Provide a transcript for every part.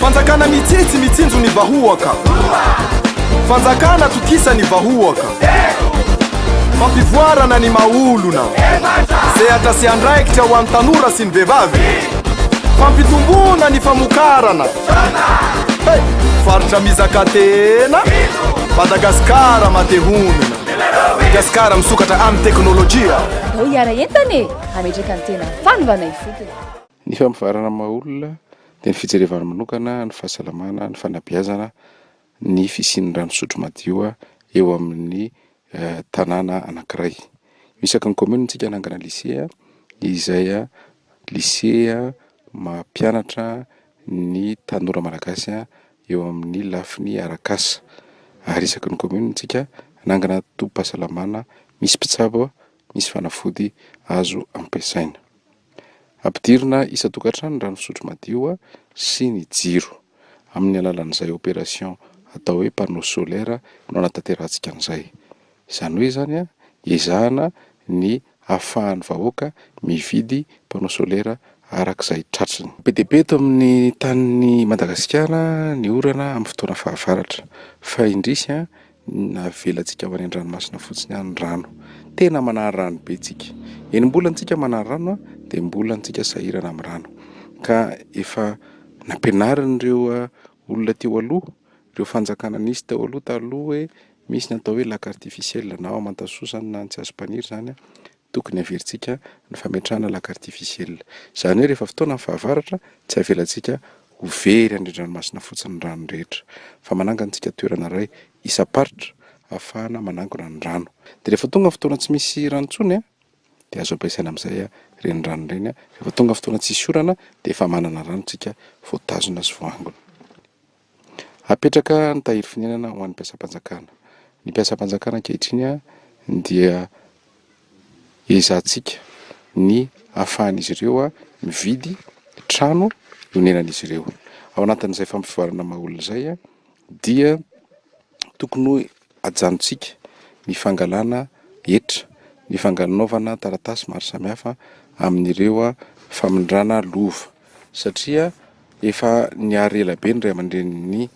Fanjakana mitsitsy mitsinjo ny vahoaka Fanjakana tokisa ny vahoaka Fampivoarana ny maha-olona Sehatra sy andraikitra ho an'ny tanora sy ny vehivavy Fampitomboana ny famokarana Hey! Faritra mizaka tena Madagasikara mate honina Madagasikara misokatra amin'ny teknolojia Andao hiara-entana e! Hametraka ny tena fanovana ifotony. Ny famovarana ny maha olona dia ny fijerevana manokana ny fahasalamana, ny fanabeazana, ny fisian'ny rano fisotro madio eo amin'ny tanàna anankiray. Io isaky ny kaominina isika hanangana lisea izay lisea mampianatra ny tanora malagasy eo amin'ny lafiny arak'asa ary isaky ny kaominina isika hanangana tobim-pahasalamana misy mpitsabo misy fanafody azo ampiasaina. Ampidirina isan-tokantrano ny rano fisotro madio sy ny jiro. Amin'ny alalan'izay opération atao hoe panneau solaire no hanatanterahantska an'izay. Izany hoe izany, ezahana ny ahafahan'ny vahoaka mividy panneau solaire arak'izay tratriny. Be dia be eto amin'ny tanin'i Madagasikara ny orana amin'ny fotoana fahavaratra. Fa indrisy, Navelantsika ho any an-dranomasina fotsiny any ny rano. Tena manary rano be tsika. Eny mbola antsika manary rano an, dia mbola antsika sahirana amin'ny rano. Ka efa nampianarin'ireo olona teo aloha, ireo fanjakana nisy teo aloha taloha hoe misy ny atao hoe lac artificiel na ao Amantasoa izany na Antsiasopaniry izany an. Tokony averintsika ny fametrahana lac artificiel. Izany hoe rehefa fotoanan'ny fahavaratra, tsy avelantsika ho very andrin-dranomasina fotsiny ny rano rehetra, fa manangantsika toerana iray isam-paritra ahafahana manangona ny rano. Dia rehefa tonga ny fotoana tsy misy rano intsony, dia azo ampiasaina amin'izay ireny rano ireny. Rehefa tonga ny fotoana tsisy orana, dia efa manana rano isika voatazona sy voaangona. Hapetraka ny tahiry fonenana ho an'ny mpiasam-panjakana. Ny mpiasam-panjakana ankehitriny dia ezahantsika ny ahafahan'izy ireo mividy trano honenan'izy ireo. Ao anatin'izay fampivoarana maha olona izay dia tokony ho. Ajanontsika ny fangalana hetra, ny fangalnaovana taratasy maro samihafa amin'ireo famindrana lova satria efa nihary ela be ny ray aman-drenin'ny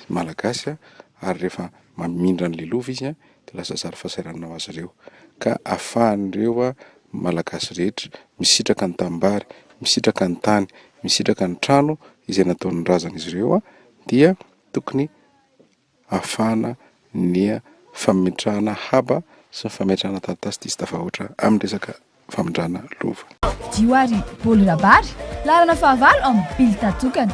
Malagasy ary rehefa mamindra an'ilay lova izy dia lasa zary fahasahiranana ho azy ireo ka afahan'ireo Malagasy rehetra misitraka ny tanimbary, misitraka ny tany, misitraka ny trano izay nataon'ny razan'izy ireo dia tokony afana ny fametrahana haba sy ny fametrahana taratasy diso tafahoatra amin'ny resaka famindrana lova. Fidio ary Paoly Rabary, laharana fahavalo amin'ny bilta tokana.